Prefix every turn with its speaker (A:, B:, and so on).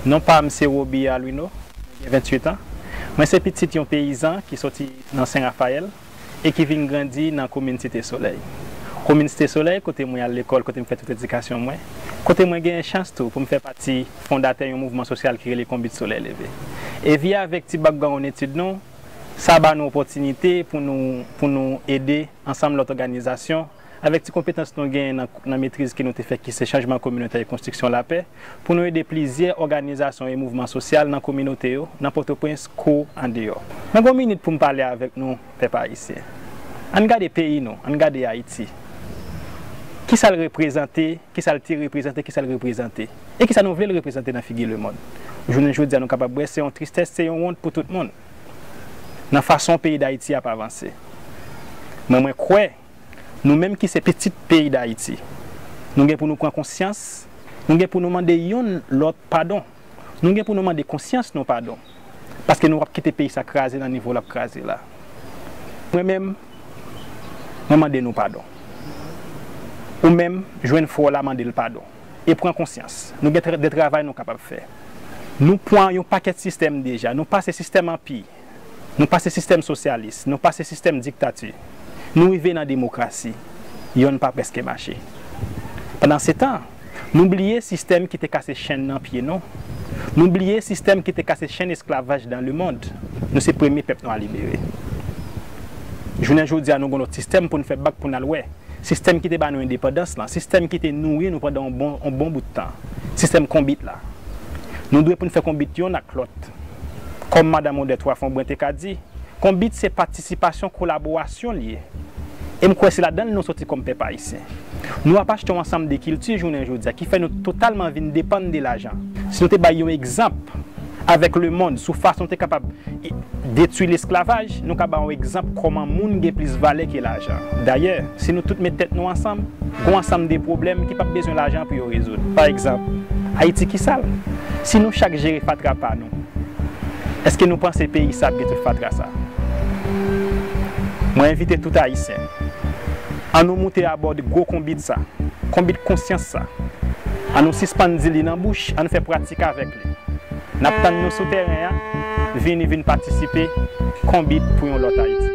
A: Non pa m se Roby Alwino, mwen gen 28 an. Mwen se pitit yon peyizan ki soti nan Sen Rafayèl e ki vin grandi nan komin Site Solèy. Komin Site Solèy kote mwen al lekòl, kote m fè tout edikasyon mwen, kote mwen genyen chans tou pou m fè pati fondatè yon mouvman sosyal ki rele Konbit Solèy Leve. E vi avèk ti bakgawonn etid nou, sa ba nou opòtinite pou nou pou nou ede ansanm lòt òganizasyon, avèk ti konpetans nou genyen nan nan metriz ke nou te fè ki se chanjman kominotè e konstriksyon lapè, pou nou ede plizyè òganizasyon e mouvman sosyal nan kominote yo, nan Pòtoprens kou andeyò. Mwen gen yon minit pou m pale avèk nou, pèp ayisyen. Ann gade peyi nou, ann gade Ayiti. Ki sa l reprezante, ki sa l te reprezante, ki sa l reprezante, e ki sa nou vle l reprezante nan figi lemonn. Jounen jodi a nou kapab wè se yon tristès, se yon wont pou tout moun, nan fason peyi Dayiti ap avanse. Men mwen kwè. Nou menm ki se pitit peyi Dayiti, nou gen pou nou pran konsyans, nou gen pou nou mande yonn lòt padon, nou gen pou nou mande konsyans nou padon, paske nou pap kite peyi sa kraze nan nivo lap kraze la. Mwen menm, mwen mande nou padon. Ou menm, jwenn frè w la mande l padon e pran konsyans. Nou gen de travay nou kapab fè. Nou pwan yon pakèt sistèm deja, nou pase sistèm anpi, Nou pase sistèm sosyalis, nou pase sistèm diktati, nou rive nan demokrasi, yonn pa prèske mache. Pandansetan, nou bliye sistèm ki te kase chenn nan pye nou, nou bliye sistèm ki te kase chenn esklavaj dan lemond, nou se premye pèp nwa libere. Jounen jodi a nou gon lòt sistèm pou n fè bak pou n al wè. sistèm ki te ba nou endepandans lan, sistèm ki te nouri nou pandan yon bon bout tan, sistèm konbit la. Nou dwe pou n fè konbit yonn ak lòt. Kòm Madan Odette Wafombrun te ka di, konbit se patisipasyon, kolaborasyon l ye. E m kwè se ladan l nou soti kòm pèp ayisyen. Nou ap achte yon ansanm de kilti jounen jodi a ki fè nou totalman vin depann de lajan. Si nou te bay yon egzanp. avèk lemonn sou fason te kapab detwi lesklavaj, nou ka ba ou egzanp kòman moun gen plis valè ke lajan. Dayè, si nou tout met tèt nou ansanm, gon ansanm de pwoblèm ki pap bezwen lajan pou yo rezoud. Pa egzanp, Ayiti ki sal. Si nou chak jere fatra pa nou, èske nou panse peyi sa ap gen tout fatra sa? Mwen envite tout Ayisyen, an nou moute abòd gwo konbit sa, konbit konsyans sa. An nou sispann di li nan bouch, an nou fè pratik avèk li. Nap tann nou sou tèren an, vini vin patisipe, Konbit pou yon lòt Ayiti.